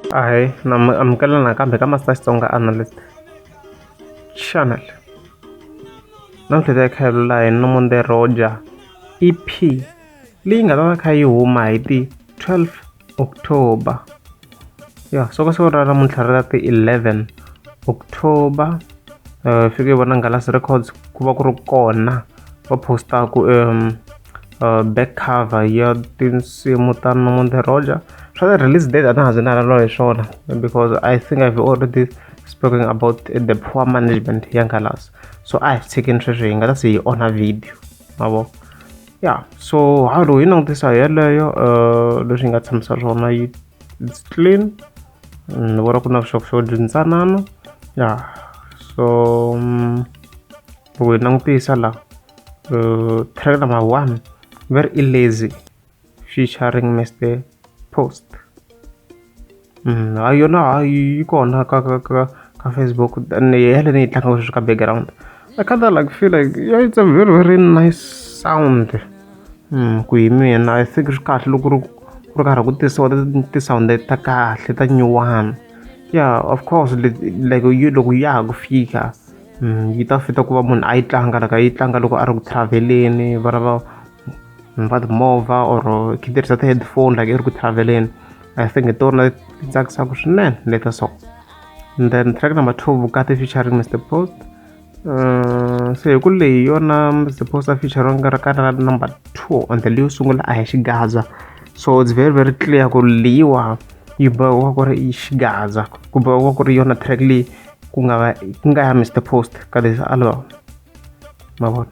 Hi, nam- amukela nakambe ka Master Xitsonga Analyst Channel. Namuntlha ta kha hi lula hi Nomonde Roger EP leyi nga ta va kha yi huma hi ti 12 october ya so ka siku ra namuntlha ri ra ti-11 october um uh, fike vona ngalasi records ku va ku ri kona va postaku um uh, back cover ya tinsimu ta nomonde roger swa the release date a na ha zi na lalo hi swona because i think i've already spoken about the poor management ya ngalasi so a hi tshikini sweswi hi nga ta se hi onha video mavoko ya so ha ro yi langutisa hi yeleyo um leswi yi nga tshamisa swona yi its clean ni vona ku na vuxokoxoko byi ntsanana ya so mm, loko hi langutisa la um track number one very lazy featuring mr post ha yona ha yi kona ka ka ka ka Facebook and ni hela ni yi tlanga sweswi ka background I kind of like feel like yeah, it's a very very nice sound mm, ku hi mina I think swi kahle loko ri ku ri karhi ku tisiwa ti-sound ta kahle ta nyuwana yeah of course like yi loko ya ha ku fika mm, yi ta fita ku va munhu a yi tlanga laka yi tlanga loko a ri ku traveleni va lava ni va timovha or khe tirhisa ti-headphone like i ri ku traveleni i think hi tona ti tsakisaka swinene leta so and then track number two vukati featuring mr post uh, se hi ku leyi yona mr post a feature nga ri kana number two on the leyi sungula a hi xigaza so it's very very clear ku leyiwa yi bohiwa ku ri i xigaza ku bohiwa ku ri yona track leyi ku nga va ku nga ya mr post ka this album ma vona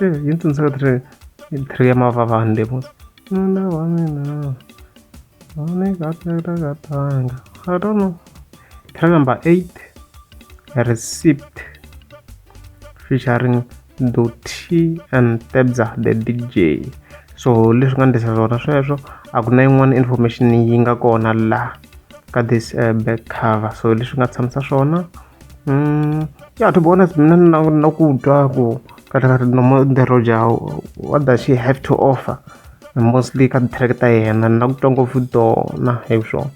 Eh, yi ni tsundzuka three three ya mavavani leyi mos nuna wa mina wa ni katekatanga i don't know track number eight receipt featuring doti and tebza the dj so leswi nga ndlisa swona sweswo a ku na yin'wana information yi nga kona laha ka this uh, back cover so leswi nga tshamisa swona Mm, yeah, to be honest, mna nakutwa ku kata kata nomo the Roger what does she have to offer? Mostly ka track ta yena nakutwa ngopfu tona hi swona.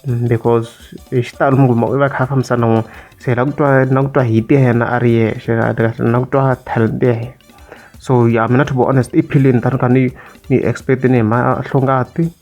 Mm, because hi xitalo muguma u va kha fambisa na n'wina se hi la ku twa na ku twa hit ya yena a ri yexe na ku twa talent ya yena so ya mina to be honest i philini tani ka ni ni expect ni hi mahlongati